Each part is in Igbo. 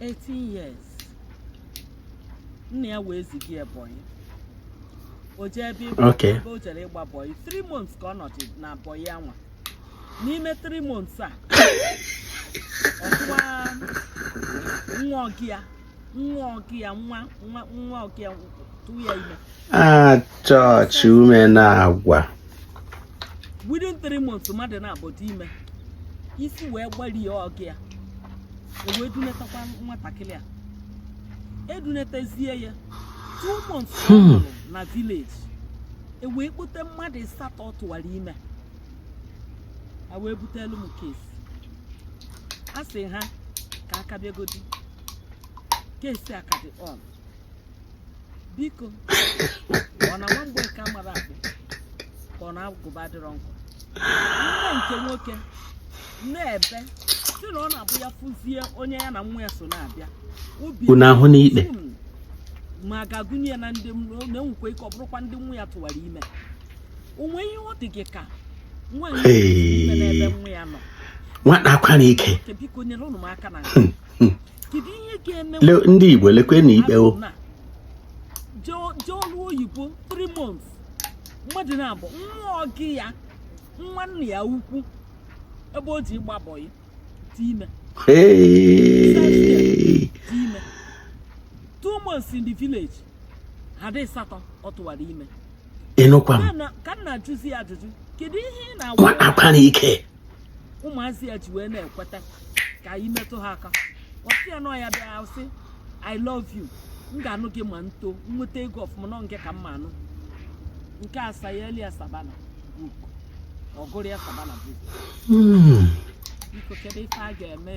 18 years nna ya wee ziga ya bọyị o jee ebe ịgba Okay. ebe o jere ịgba bọyị 3 months ka ọ nọdụ na bọyị anwa n'ime 3 months a ọ tụwa nwa ọga ya nwa ọga ya nwa nwa nwa ọga ya tụwa ya ime Ah, chọọchị ume na-agwa. within three months mmadụ naabọ dị ime isi wee gbarie ọga ya e wee dunetakwa nwatakịrị a e dunetezie ya two months ọ hmm. nọrọ na village e wee kpọte mmadụ ịsatọ ọ tụwara ime a e wee butelu m case a sị ha ka aka bịagodi case a ka dị on biko ọ na nwa Mgbeke amarọ akpụ ka ọ na agụba adịrọ nkọ nne nke nwoke na-ebe sị na ọ na-abụ ya fụzie onye ya na nwa ya so na-abịa obi Unu ahụ n'ikpe. Hmm. ma a ga-agụnye ya na ndị na-enwekwa ike ọ bụrụkwa ndị nwa ya tụwara ime o nwe ihe ọ dị gị ka nwaanyị Hey. ime n'ebe nwa ya nọ nwata akwara ike Nke biko nyerenụ m aka na nke hmm. ndị Igbo lekwenụ ikpe o oyibo 3 months mmadụ naabọ nwa ọga ya nwa nna ya ukwu ebe o je ịgba bọyị dị ime two months in the village ha dị satọ ọ tụwara ime ị nụkwa m ka m na-ajụzi ya ajụjụ kedu ihe ị na-agwa ike ụmụazị a ji wee na-ekweta ka ị metụ ha aka ọ sị ya nọ ya bịa sị i love you m ga-anụ gị ma m too nweta ego ọfụma na ọ ngị ka m ma-anụ nke asa ya elu ya sabana book ọ gụrụ ya sabana book hmm. biko kedu ife a ga-eme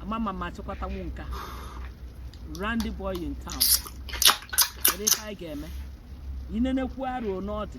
amama ma chịkwata nwa nka randy boy in town kedu ife a ga-eme i nenekwu arụ n'ọdị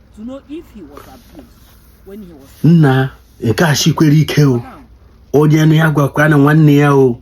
nna nke a shikwere ike o onye nụ ya gwakwa na nwanne ya o